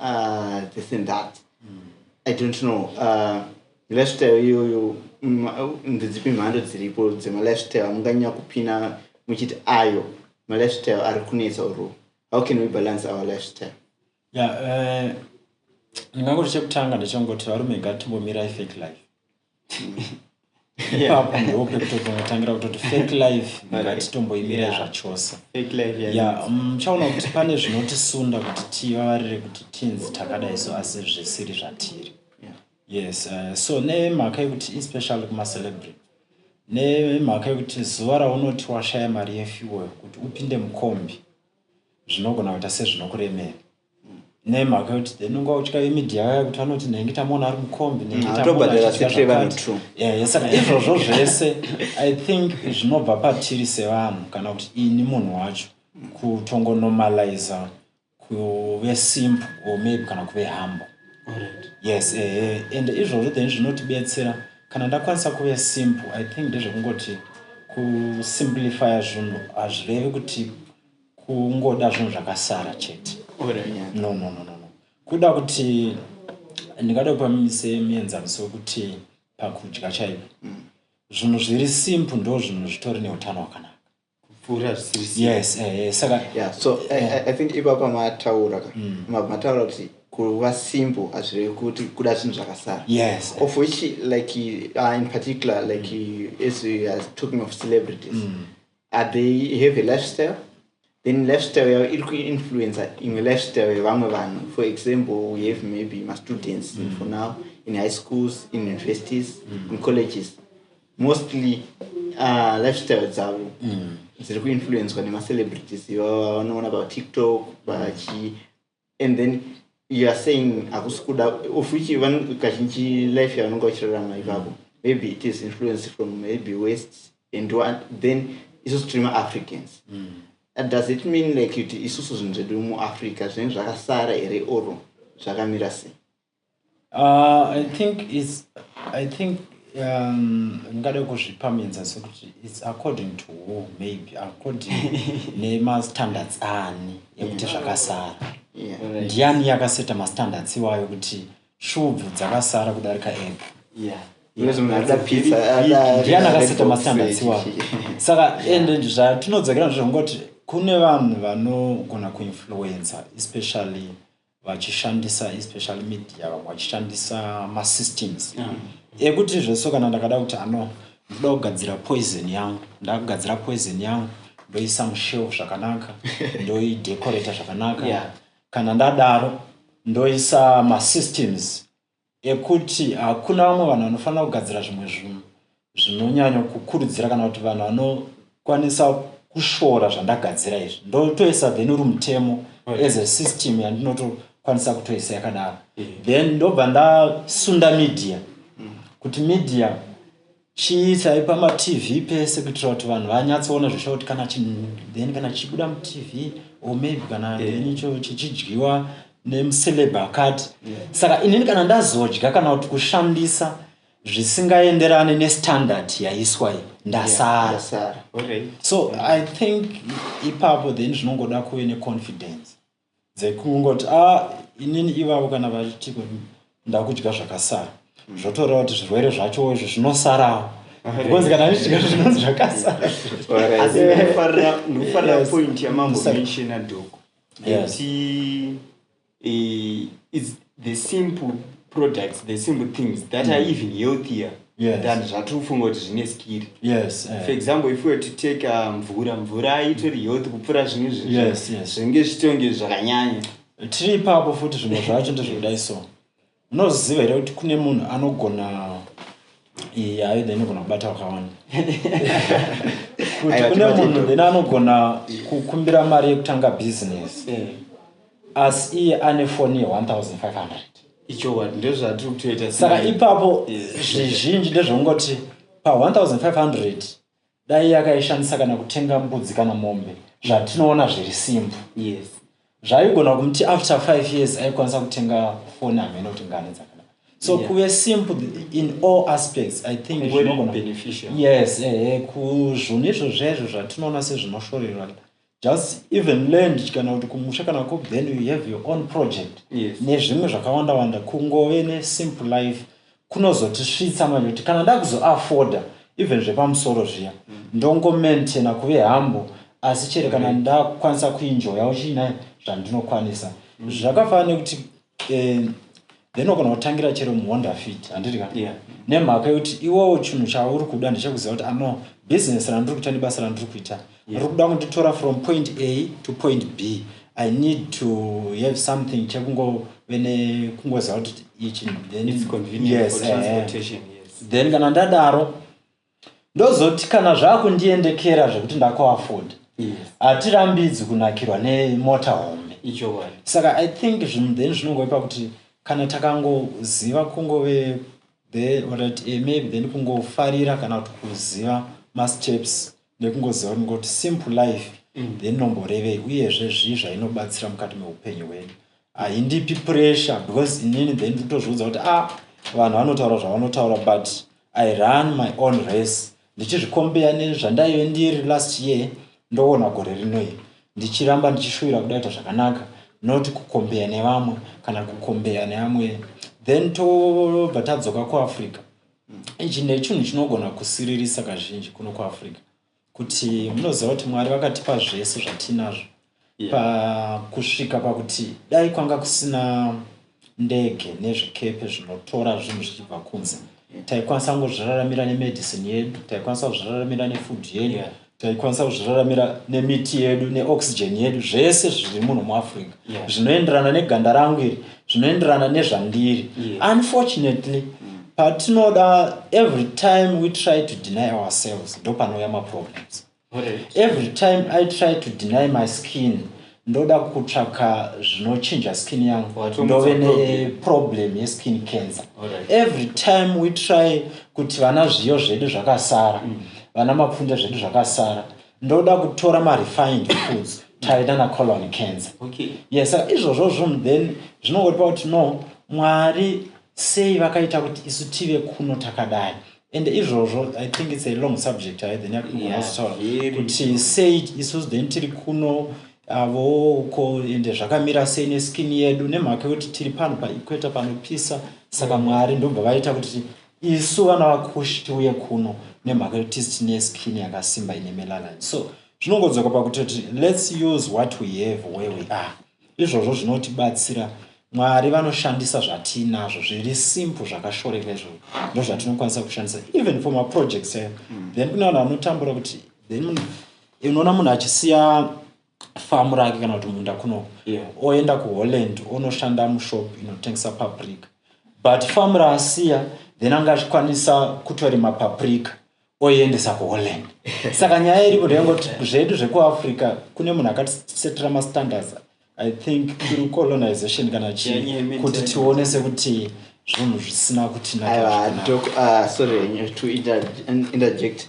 uh, this and that mm. i don't know uh, lifestyle iyoyo mm, ndedzipi mhando dziripo dzemalifestyle amunganyanya kupina muchiti ayo malifestyle ari kunetsa uru how can we balance our lifestyle ya yeah, uh, ndingangoti chekutanga ndechongoti varume ngatimbomirai fake life ipapo ndope kutotangira kutoti fake life ngatitomboimira zvachose um, chaona kuti pane zvinotisunda kuti tivavarire kuti tinzi takadai so asi zvisiri zvatiri yes uh, so nemhaka yekuti especially kumacelebrity nemhaka yekuti zuva raunoti washaya mari yefuel kuti upinde mukombi zvinogona kuita sezvinokuremera nemhaka yokuti then unga utya imedia yaya kuti vanoti nenge tamuona ari mukombi nengeaasaka izvozvo zvese i think zvinobva patiri sevanhu kana kuti ini munhu wacho kutongonormaliza kuve simp or maybe kana kuve hambo yes ehe and izvozvo then zvinotibetsera kana ndakwanisa kuve simp i think ndezvekungoti kusimplifya zvinhu hazvirevi kuti kungoda zvinhu zvakasara chete no no no no kuda kuti ndingada kupa mise mienzaniso wekuti pakudya chaipo mm. zvinhu zviri simple ndo zvinhu zvitori neutano hwakanaka kupfuura zvisiri yes eh, eh, saka yeah so eh, eh. i think ipapa mataura ka mm. mataura kuti kuva simple hazvirevi kuti kuda zvinhu zvakasara yes of which like uh, in particular like mm. as we are talking of celebrities mm. are they have a lifestyle then lifestyle yavo iri kuinfluencer imwe lifestyle yevamwe vanhu for example we have maybe mastudents mm. for now in high schools in universities mm. in colleges mostly uh, lifestyle dzavo mm. dziri kuinfluencwa nemacelebrities ivavo vanoona patiktok vachii mm. and then you are saying hakusi kuda of which kazhinji life yavanenge vachirarama ivavo maybe it is influence from maybe west and one, then isusu tiri maafricans mm. Uh, does it mean like kuti isusu zvinhu zvedu muafrica zvinenge zvakasara here or zvakamira sei uh, i think is i think um, ndingade um, kuzvipa minza sekuti its according to who maybe according nemastandards ani ekuti zvakasara ndiani yakaseta mastandards iwayo kuti shubvu dzakasara kudarika epo yeah ndiani akaseta mastandards iwayo saka ende zvatinodzakira ndizvongoti kune vanhu vanogona kuinfluencer especially vachishandisa especially media vamwe vachishandisa masystems mm. ekuti zveso kana ndakada kuti ano ndoda kugadzira poison yangu ndakugadzira poison yangu ndoisa mushelf zvakanaka ndoidecorata zvakanaka yeah. kana ndadaro ndoisa masystems ekuti hakuna vamwe vanhu vanofanira kugadzira zvimwe zvinhu zvinonyanyo kukurudzira kana kuti vanhu vanokwanisa kushora zvandagadzira izvi ndotoisa then uri mutemo as a system yandinotokwanisa kutoisa yakadaro then ndobva ndasunda media kuti media Chii chaipa matv pese kuitira kuti vanhu vanyatsoona zvesha kuti kana chinhu then kana chichibuda mutv or maybe kana eh. then icho chichidyiwa nemuceleb akati saka inini kana ndazodya kana kuti kushandisa zvisingaenderane nestandard yaiswa iyi ndasara so i think ipapo then zvinongoda kuve neconfidence dzekungoti a ah, inini ivavo kana vachitiko ndakudya zvakasara mm. zvotoreva kuti zvirwere zvacho izvo zvinosarawo because kana ndichidya zvinonzi zvakasara asi ndikufarira point yamambo mention adoko ekuti the simple products the simple things that mm. are hmm. even healthier yes. than zvatiri kufunga kuti zvine skiri yes, uh. for example if were to take uh, mvura um, mvura itori health kupfuura zvimwe zvinhu yes, yes. zvinge zvitonge zvakanyanya tiri ipapo futi zvimwe zvacho ndezvekudai so munoziva here kuti kune munhu anogona iyi aida inogona kubata vakawanda kuti kune munhu then anogona kukumbira mari yekutanga business eh. asi iye ane foni ye1500 ichokwadi ndozvatiri kutoita saka ipapo zvizhinji ndezvekungoti pa1500 dai yakaishandisa kana kutenga mbudzi kana mombe zvatinoona zviri simple yes zvaigona kumuti after five years aikwanisa kutenga foni hamene kuti ngani dzakada so yeah. kuve simple in all aspects i think yes ehe kuzvunhu izvo zvezvo zvatinoona sezvinoshorerwa just even land kana kuti kumusha kana ku then you have your own project yes. nezvimwe zvakawanda wanda kungove ne simple life kunozotisvitsa manje kuti kana ndakuzoafforda even zvepamusoro zviya mm. ndongomaintaina kuve hambo asi chere kana mm. ndakukwanisa kuinjoyawo chiinai zvandinokwanisa mm. zvakafanana nekuti eh, then wagona kutangira chero muhonda fit handiti ka yeah. nemhaka yekuti iwowo chinhu chauri kuda ndechekuziva kuti ano business randiri kuita nebasa randiri kuita yeah. rikuda kunditora from point a to point b i need to have something chekungove nekungoziva kuti ichi then, yes, uh, then kana ndadaro ndozoti kana zvakundiendekera zvekuti ndakuafoda hatirambidzi yes. kunakirwa nemota hombe saka i think zvinhu then zvinongoipa kuti kana takangoziva kungove the orit eh, maybe then kungofarira kana kuti kuziva masteps nekungoziva kuti ngoti simple life mm. then nomborevei uyezve zvii zvainobatsira mukati meupenyu hwedu haindipi pressure because inini then ndikutozviudza kuti a ah, vanhu vanotaura zvavanotaura but i run my own race ndichizvikombeya nezvandaive ndiri last year ndoona gore rinoi ndichiramba ndichishuvira kudaita zvakanaka not kukombeya nevamwe kana kukombeya neamwe then tobva tadzoka kuafrica ichi nechinhu chinogona kusiririsa kazhinji kuno kuafrica kuti munoziva kuti mwari vakatipa zvese zvatinazvo yeah. pakusvika pakuti dai kwanga kusina ndege nezvikepe zvinotora zvinhu zvichibva kunze taikwanisa kungozviraramira nemedicine yedu taikwanisa kuzviraramira nefood yedu yeah. taikwanisa kuzviraramira nemiti yedu neoxygen yedu zvese zviri munhu muafrica yeah. zvinoenderana neganda rangu iri zvinoenderana nezvandiri yeah. unfortunately mm. patinoda every time we try to deny ourselves ndopanouya maproblems every time i try to deny my skin ndoda kutsvaka zvinochinja skin yangu ndove neproblem yeskin cancer every time we try kuti vana zviyo zvedu zvakasara mm. vana mapfunde zvedu zvakasara ndoda kutora marefined foods tave nana colon cancer okay. yes izvozvo zvunhu then zvinongoripa kuti no mwari sei vakaita kuti isu tive kuno takadai and izvozvo i think its a long subject hai then yakugonazitaura yeah, kuti sei isusu then tiri kuno avo uko ende zvakamira sei neskin yedu nemhaka yekuti tiri pano paequator panopisa saka mwari ndobva vaita kuti isu vana vakushi tiuye kuno nemhaka yekuti tisi tine skin yakasimba ine melanin so zvinongodzoka pakuti kuti lets use what we have where we are izvozvo zvinotibatsira mwari vanoshandisa zvatiinazvo zviri simple zvakashoreka izvozvo ndo zvatinokwanisa kushandisa even for maprojects ayo mm. then kune vanhu vanotambura kuti then unoona munhu achisiya famu rake kana kuti munda kunoko yeah. oenda kuholland onoshanda mushop inotengesa paprika but famu raasiya then anga achikwanisa kutorima paprika oiendesa kuholland saka nyaya iripo ndeyangoti zvedu zvekuafrica kune munhu akatisetera mastandards i think through colonization kana chii kuti tione sekuti zvinhu zvisina kutinaasorry ah, to interject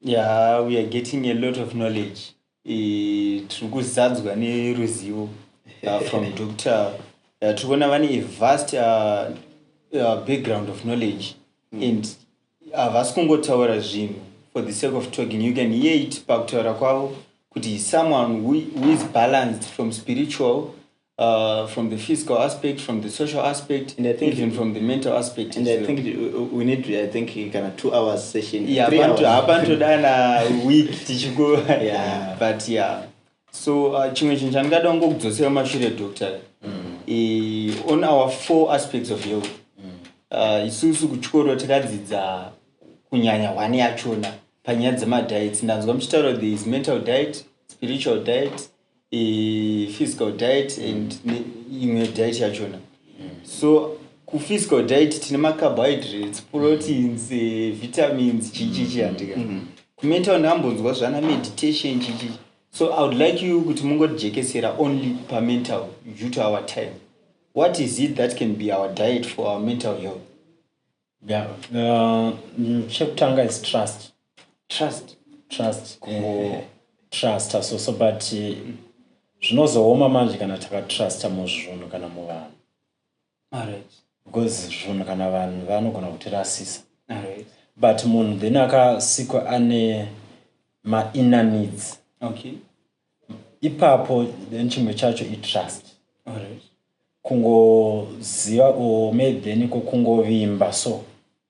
Yeah, we are getting a lot of knowledge. Eh, tiri kuzadzwa neruzivo uh, from Dr. Uh, tiri kuona vane a vast uh, uh, background of knowledge mm. and havasi uh, kungotaura zvinhu for the sake of talking. You can hear it pakutaura kwavo kuti someone who, who is balanced from spiritual Uh, from the physical aspect, from the social aspect, and I think even from the mental aspect. And I think uh, we need, to, I think, kind of two hours session. Yeah, three hours. Happen to done a week. yeah, but yeah. So, uh, chimwe chinhu chandingada ngo kudzosera mashure doctor mm. on our four aspects of health mm. uh, isusu kuchikoro takadzidza kunyanya hwani yachona panyaya dzemadiets ndanzwa muchitaura there is mental diet spiritual diet eh, physical diet and mm. imwe diet yachona mm. so kuphysical diet tine macarbohydrates proteins mm. eh, vitamins chichichi handika mm. mm. kumental ndambonzwa zvana meditation chichichi so i would like you kuti mungotijekesera only pamental due to our time what is it that can be our diet for our mental health Yeah. Uh, mm, chekutanga is trust. Trust. Trust. Kungo trust so so but eh, zvinozooma manje kana takatrusta muzvinhu kana muvanhu. Alright. Because zvinhu kana vanhu vanogona kutirasisa. Alright. But munhu then akasikwa ane ma inner needs. Okay. Ipapo then chimwe chacho i trust. Alright. kungoziva or maybe then ko kungovimba so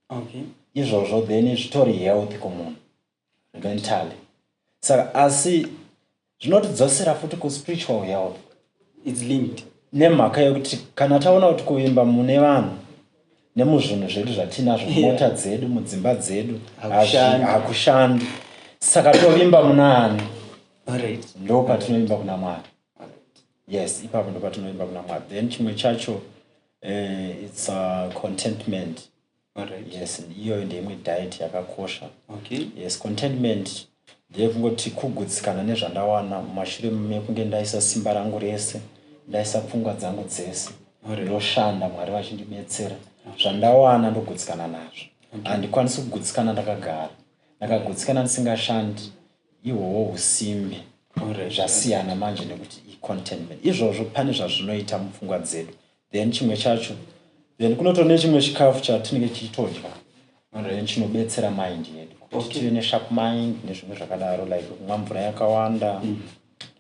okay izvozvo then zvitori healthy kumunhu mentally saka asi zvinotidzosera futi kuspiritual health its linked nemhaka yekuti kana taona kuti kuvimba mune vanhu nemuzvinhu zvedu zvatinazvo mota yeah. dzedu mudzimba dzedu hakushandi saka tovimba munaani right. ndo patinovimba kuna mwari yes ipapo ndopatinoimba kuna mwari then chimwe chacho uh, its uh, contentment right. yes iyoyo ndeimwe diet yakakosha okay. yes contentment ndeyekungoti kugutsikana nezvandawana mumashure mekunge ndaisa simba rangu rese ndaisa pfungwa dzangu dzese ndoshanda mwari vachindibetsera zvandawana ndogutsikana nazvo handikwanisi kugutsikana ndakagara ndakagutsikana ndisingashandi Ihoho husimbe hure zvasiyana manje nekuti icontentment izvozvo pane zvazvinoita mupfungwa dzedu then chimwe chacho then kunoto nechimwe chikafu chatinenge tichitodya then chinobetsera mind yedu kuti tive nesharp mind nezvimwe zvakadaro like kumwa mvura yakawanda mm.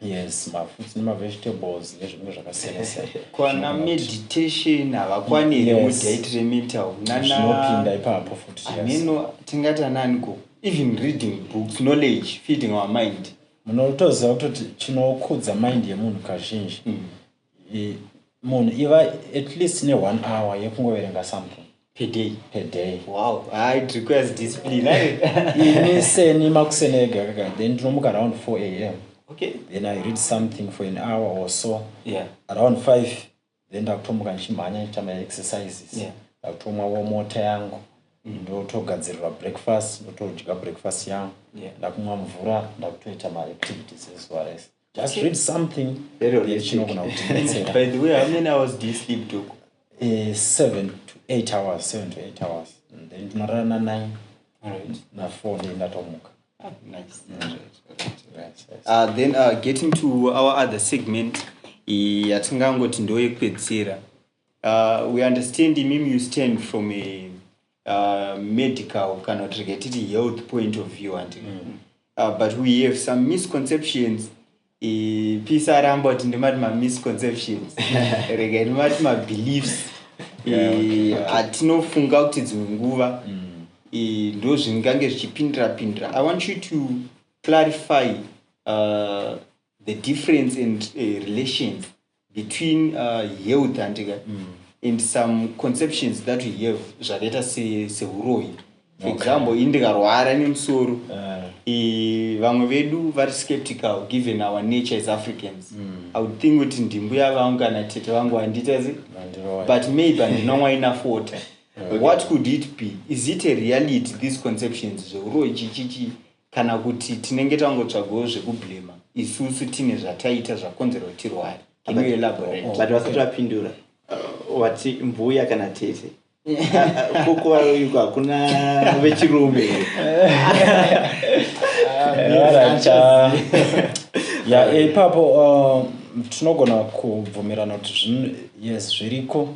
yes mafruits nemavegetables nezvimwe zvakasiyanasiyana meditation havakwaniri mudiet remental nanopinda ipapo futi ameno tingati ananiko even reading books knowledge feeding our mind munotoziva kutoti chinokudza mind yemunhu kazhinji mm. munhu iva at least neone hour yekungoverenga something peday peday wow ah, it requires discipline eh? ini seni makuseni ega kaka then ndinomuka around four a m okay then i read something for an hour or so yeah around five then ndakutomuka ndichimhanya ndichita maexercises yeah. ndakutomwawo mota yangu mm. ndotogadzirirwa breakfast ndotodya breakfast yangu yeah. ndakumwa mvura ndakutoita maactivities ezuva rese just okay. read something chinogona kutibetsera by the way how many hours do you sleep to uh, seven to eight hours seven to eight hours and then ndinorara na nine right. na four ndendatomuka Ah, nice. Right, right, right, right. Uh, then uh, getting to our other segment eh, yatingangoti ndo yekupedzisira uh, we understand imimi you stand from a uh, medical kana kuti rega titi health point of view andi uh, but we have some misconceptions pisa aramba kuti ndimati mamisconceptions rega ndimati mabeliefs atinofunga yeah, okay. kuti dzimwe nguva mm. ndo zvingange zvichipindira pindira i want you to clarify uh, the difference and uh, relations between uh, health handika mm. and some conceptions that we have zvakaita sehuroyi se for okay. example ini ndikarwara nemusoro uh. e, vamwe vedu vari skeptical given our nature as africans mm. i would think kuti ndimbuya vangu kana tete vangu vandiita se but maybe andinomwa enough water okay. what could it be is it a reality these conceptions zveuroyi chichichii Kana kuti tinenge tangotsvagawo zvekublamer isusu tine zvataita zvakonzera kuti tirware. Can you elaborate? But vasati vapindura uh, wati mbuya kana tete kokuvaroyiko hakuna vechirume ya ipapo uh, tinogona kubvumirana kuti yes zviriko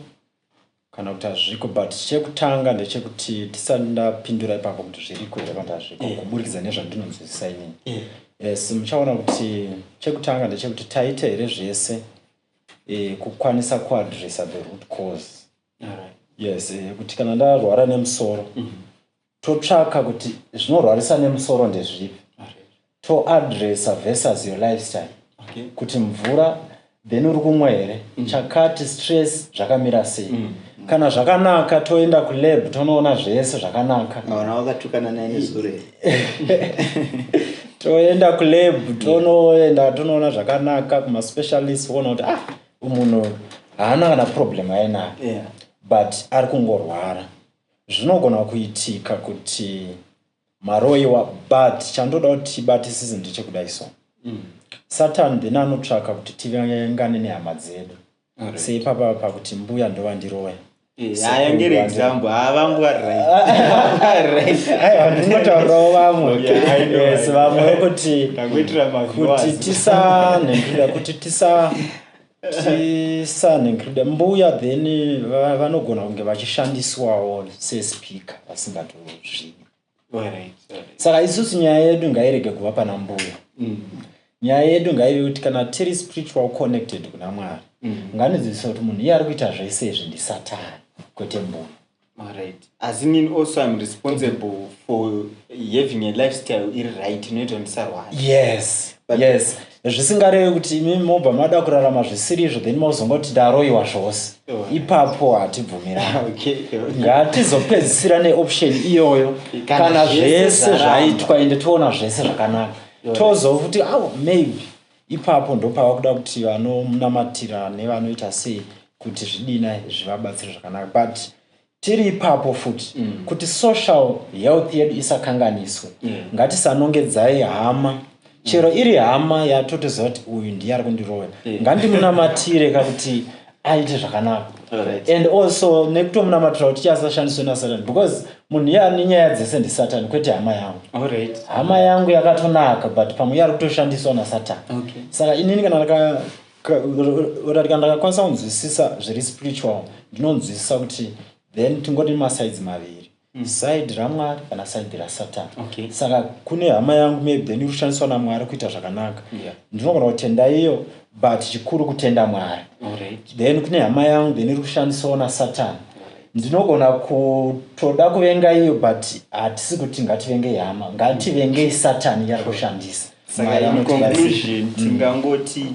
Kana kuti hazviko but chekutanga ndechekuti tisati ndapindura ipapo kuti zviriko here kana kuti hazviko eh. kuburikidza nezvandinonzwisisa inini eh. yes muchaona kuti chekutanga ndechekuti taita here zvese eh, kukwanisa kuadressa the root cause right. yes eh, kuti kana ndarwara nemusoro mm -hmm. totsvaka kuti zvinorwarisa nemusoro ndezvipi toadressa versus your lifestyle okay. kuti mvura then uri kumwa here mm. chakati stress zvakamira sei mm. mm. kana zvakanaka toenda kulab tonoona zvese zvakanaka toenda kulab mm. tonoenda tonoona zvakanaka kumaspecialist kuona kuti ah munhu haana kana problem ainayo yeah. but ari kungorwara Zvinogona kuitika kuti maroiwa but chandoda kuti tibatisise ndechekudai so mm. satan then anotsvaka kuti tivengane nehama dzedu right. seipapa pakuti mbuya ndovandiroya ayangere eh, example havangwarainotaurawo vamweyes vamwe kuti tisanhendura kuti tisa tisane nkrida mbuya then va- vanogona kunge vachishandiswawo sespeaker vasingatozvivi saka isusu nyaya yedu ngairege kuva pana mbuya nyaya yedu ngaive kuti kana tiri spiritual connected kuna mwari nganodzidzisa kuti munhu iye ari kuita zvese izvi ndisatani kwete mbuya Alright. As in mean also I'm responsible for having a lifestyle iri right inoita ndisarwara. Yes. But yes. Zvisingarevi kuti imi mobva mada kurarama zvisiri izvo then mozongoti ndaroiwa zvose. Oh. Ipapo hatibvumirana. okay. Ngatizopedzisira neoption iyoyo kana zvese zvaitwa ende toona zvese zvakanaka. Tozofuti awo oh, maybe Ipapo ndopava kuda kuti vanomunamatira nevanoita sei kuti zvidina zvivabatsire zvakanaka but tiri ipapo futi mm. kuti social health yedu isakanganiswe mm. ngatisanongedzai hama chero mm. iri hama yatotoziva kuti uyu ndiye ari kundiroya mm. ngandimunamatire kakuti aite zvakanaka right. and also nekutomunamatira kuti chiasashandiswe nasatan because munhu iye ane nyaya dzese ndisatan kwete hama yangu right. hama yangu yakatonaka but pamwe iye ari kutoshandiswa nasatan okay. saka inini kana ndaka ratati kana ndakakwanisa kunzwisisa zviri spiritual ndinonzwisisa kuti then tingoti masides maviri side ramwari kana side rasatan okay. saka kune hama yangu maybe then iri kushandiswa namwari kuita zvakanaka yeah. ndinogona kutenda iyo but chikuru kutenda mwari right. then kune hama yangu then iri kushandiswawo nasatan ndinogona kutoda kuvenga iyo but hatisi kuti ngativengei hama ngativengei satan yari kushandisa saka in conclusion mm. tingangoti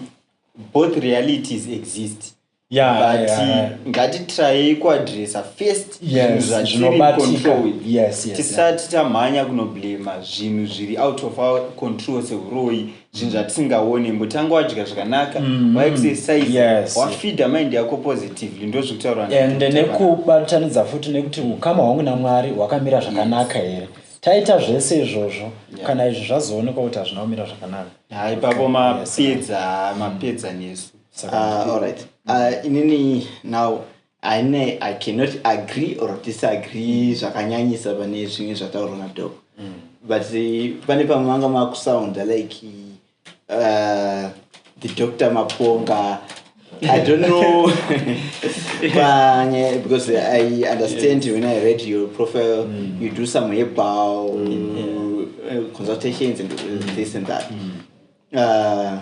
both realities exist yeah, but yeah, yeah. ngatitrayei kuadressa first yes, zvatiricontrol with yes, yes, tisati yeah. tamhanya kunoblema zvinhu zviri out of our control seuroyi zvinhu zvatisingaone mbotanga wadya zvakanaka mm-hmm. waexercise yes. wafida mind yako positively ndo zvekutaura ende nekubatanidza futi nekuti ukama hwangu namwari hwakamira zvakanaka here yes taita zvese izvozvo yeah. kana izvi zvazoonekwa kuti hazvina kumira zvakanaka haipapo mapedza mapedza nesu Ah, all right. Ah, inini now ine i cannot agree or disagree zvakanyanyisa pane zvimwe zvataurwa nadoc mm. but eh, pane pamwe vanga makusounda like uh, the doctor maponga i don't know panye because i understand yes. when i read your profile mm. you do some hebal mm. yeah. Eh, consultations and mm. this and that mm. uh,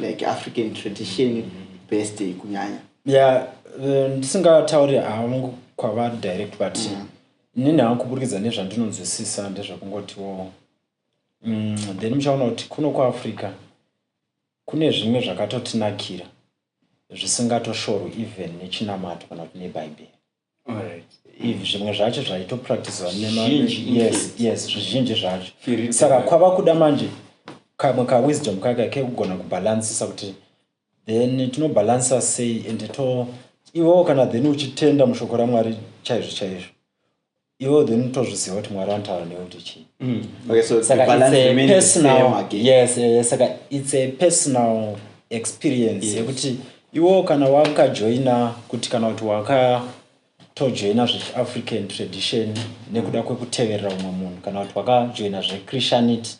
like african tradition best kunyanya ya eh, ndisingatauri hangu kwavari direct but mm. nini hangu kuburikidza nezvandinonzwisisa ndezvekungotiwo mm, then muchaona kuti kuno kuafrica kune zvimwe zvakatotinakira zvisingatoshorwi even nechinamato kana kuti nebhaibheri zvimwe zvacho zvaitopracticewa yes zvizhinji zvacho saka kwava kuda manje kamwe kawisdom kaka kekugona kubhalansisa kuti then tinobhalansisa sei and to iwewo kana then uchitenda mushoko ramwari chaizvo chaizvo iwewo then tozviziva kuti mwari anotaura newe kuti chii mm. yes saka its a personal experience yekuti yes. Iwo kana wakajoina kuti kana kuti wakatojoina zvechiafrican tradition nekuda kwekuteverera umwe munhu kana kuti wakajoina zvechristianity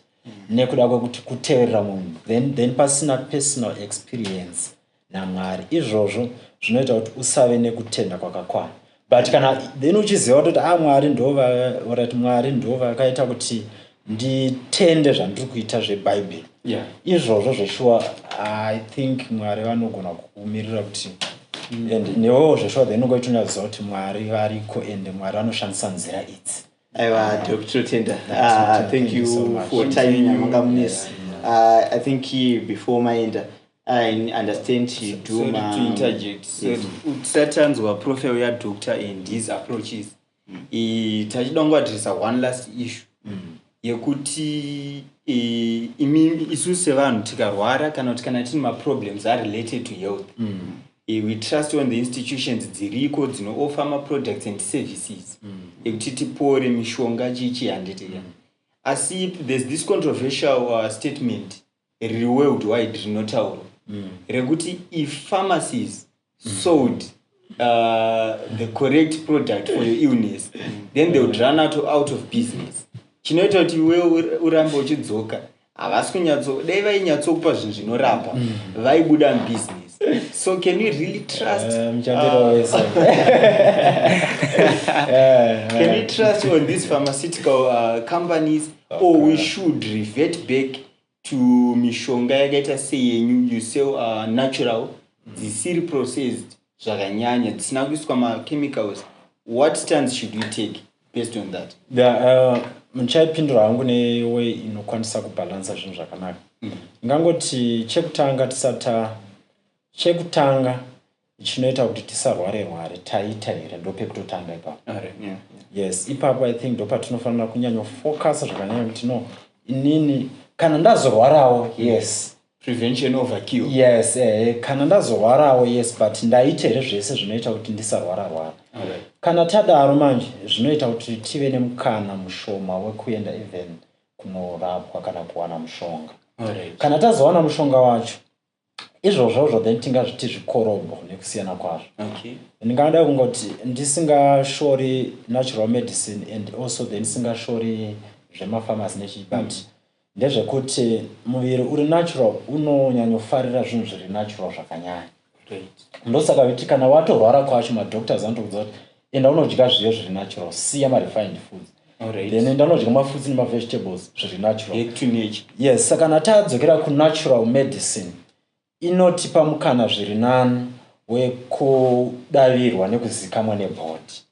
nekuda kwekuti kuteverera umwe munhu then, then pasina personal experience namwari izvozvo zvinoita kuti usave nekutenda kwakakwana but kana then uchiziva kutoti a ah, mwari ndovaorati mwari ndovakaita kuti nditende zvandiri kuita zvebhaibheri yeah. izvozvo zveshuwa i think mwari vanogona kukumirira kuti mm. and newewo zveshuwa then ungoitonyatsoziva kuti mwari variko and mwari vanoshandisa nzira idzi aiwa dr totenda ah, thank you for timing yamanga munesi ah, i think before maenda i understand you do matisatanzwa profile yadoctor and his approaches mm. tachida kungoadressa one last issue mm. yekuti imi isu sevanhu tikarwara kana kuti kana tine maproblems arelated to health mm. We trust on the institutions dziriko dzino offer ma products and services mm. ekuti tipore mishonga chii chii handiti ka mm. asi there's this controversial uh, statement riri world wide rinotaurwa mm. rekuti if pharmacies mm. sold uh, the correct product for your illness mm. then they would run out, out of business chinoita kuti iwe urambe uchidzoka havasi kunyatso dai vainyatsokupa zvinhu zvinorapa mm. vaibuda mubusiness so can you really trust eh, uh, eh, can you trust on these pharmaceutical uh, companies okay. or we should revert back to mishonga yakaita seyenyu you sell uh, natural dzisiri processed zvakanyanya dzisina kuiswa machemicals what stands should we take based on that uh, muchaipindura hangu neway inokwanisa kubhalansa zvinhu zvakanaka mm. ingangoti chekutanga tisata chekutanga chinoita kuti tisarware rware taita here ndopekutotanga ipapo yes ipapo i think ndopatinofanira kunyanya focusa zvakanyanya kuti no inini kana ndazorwarawo yes prevention over cure yes eh, kana ndazorwarawo yes but ndaita here zvese zvinoita kuti ndisarwara rwara okay. kana tadaro manje zvinoita kuti tive nemukana mushoma wekuenda even kunorapwa kana kuwana mushonga right. kana tazowana mushonga wacho izvozvozvo then tingazviti zvikorobho nekusiyana kwazvo okay. ndingada kungoti ndisingashori natural medicine and also then ndisingashori zvemafamasi nechii but mm. Ndezvekuti muviri uri natural unonyanyofarira zvinhu zviri natural zvakanyanya ndosaka viti kana watorwara kwacho madoctors anotoudza kuti enda unodya zviyo zviri natural siya marefined foods then enda unodya mafruits nemavegetables zviri natural yes saka kana tadzokera kunatural medicine inotipa mukana zviri nani wekudavirwa nekuzikamwa nebhodhi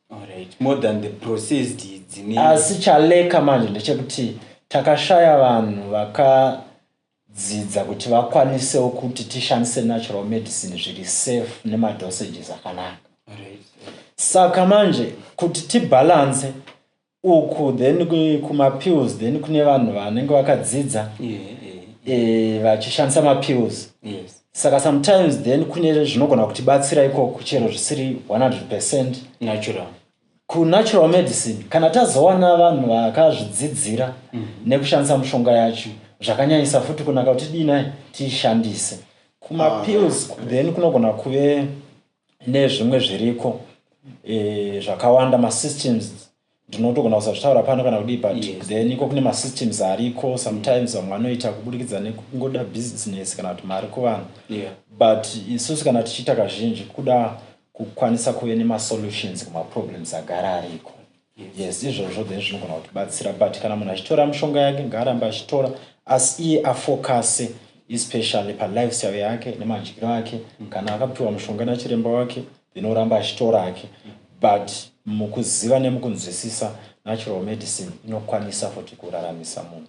asi chaleka manje ndechekuti takashaya vanhu vakadzidza kuti vakwanisewo kuti tishandise natural medicine zviri safe nemadosages akanaka saka manje kuti tibhalanse uku then kumapills then kune vanhu vanenge vakadzidza eh, vachishandisa mapills saka sometimes then kune zvinogona kutibatsira ikoko chero zvisiri 100 percent natural kunatural medicine kana tazowana vanhu vakazvidzidzira mm -hmm. nekushandisa mushonga yacho zvakanyanyisa futi kunaka kuti dii nai tiishandise kumapills ah, okay. then kunogona kuve nezvimwe zviriko eh, zvakawanda masystems ndinotogona kusazvitaura pano kana kudii but yes. then iko kune masystems ariko sometimes vamwe vanoita kuburikidza nekungoda business kana kuti mari kuvanhu yeah. but isusu kana tichiita kazhinji kuda kukwanisa kuve nemasolutions kumaproblems agara ariko Yes izvozvo then zvinogona kutibatsira but kana munhu achitora mishonga yake ngaarambe achitora asi iye afocase especially palifestyle yake nemadyiro ake kana akapiwa mushonga nachiremba wake then oramba achitora ake but mukuziva nemukunzwisisa natural medicine inokwanisa futi kuraramisa munhu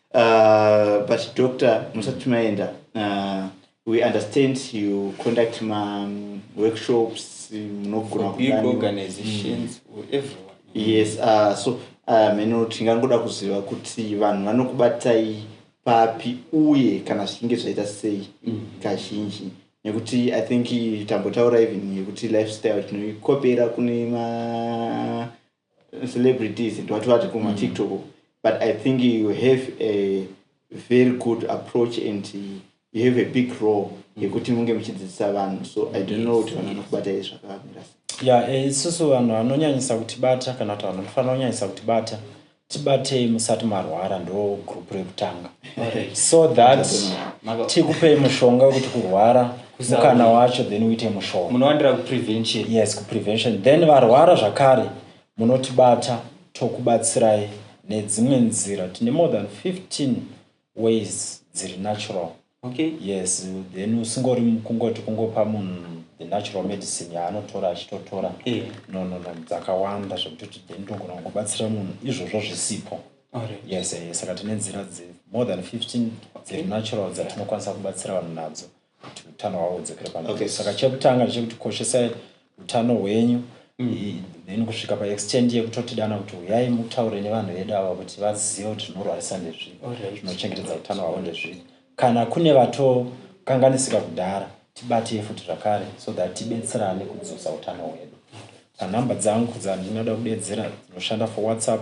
Uh, but doctor musati maenda uh, we understand you conduct ma um, workshops munogona kuorganizations mm. for everyone yes uh, so uh, meno tingangoda kuziva kuti vanhu vanokubatai papi uye kana zvichinge zvaita sei mm. kazhinji nekuti i think tambotaura even yekuti lifestyle tinoikopera kune ma celebrities and what what kuma mm. tiktok but i think you have a very good approach and you have a big role mm. yekuti munge muchidzidzisa vanhu so i don't know kuti vanhu vanokubata izvi zvakamira ya eh, isusu vanhu vanonyanyisa kutibata kana kuti vanhu vanofanira kunyanyisa kutibata tibatei musati marwara ndo group rekutanga so that tikupei mushonga wekuti kurwara mukana wacho then uite mushoma munowandira kuprevention yes kuprevention then varwara zvakare munotibata tokubatsirai nedzimwe nzira tine more than 15 ways dziri natural okay yes then usingori kungoti kungopa munhu the natural medicine yaanotora achitotora yeah. no no no dzakawanda zvekutoti then togona kungobatsira munhu izvozvo zvisipo yes yes saka tine nzira dze more than 15 dziri natural dzatinokwanisa kubatsira vanhu nadzo kuti utano hwavo hudzokere panzvimbo saka chekutanga ndechekuti koshesai utano hwenyu mm. then kusvika paextend yekutotidana kuti huyai mutaure nevanhu vedu ava kuti vazive kuti zvinorwarisa ndezvii zvinochengetedza utano hwavo ndezvii kana kune vatokanganisika kudhara tibatei futi zvakare so that tibetserane kudzosa utano hwedu panhamba dzangu dzandinoda kudedzera dzinoshanda for whatsapp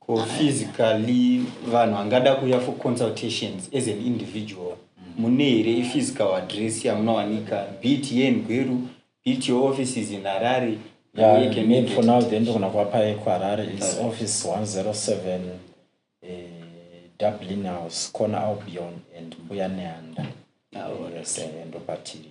Ko physically vanhu vangada kuuya for consultations as an individual mune here iphysical address yamunowanika beat yengweru beat your offices in harare for now then ndogona kuvapa yekuharare is office 107 eh, dublin house corner albion and mbuya neanda ah, eh, ndopatiri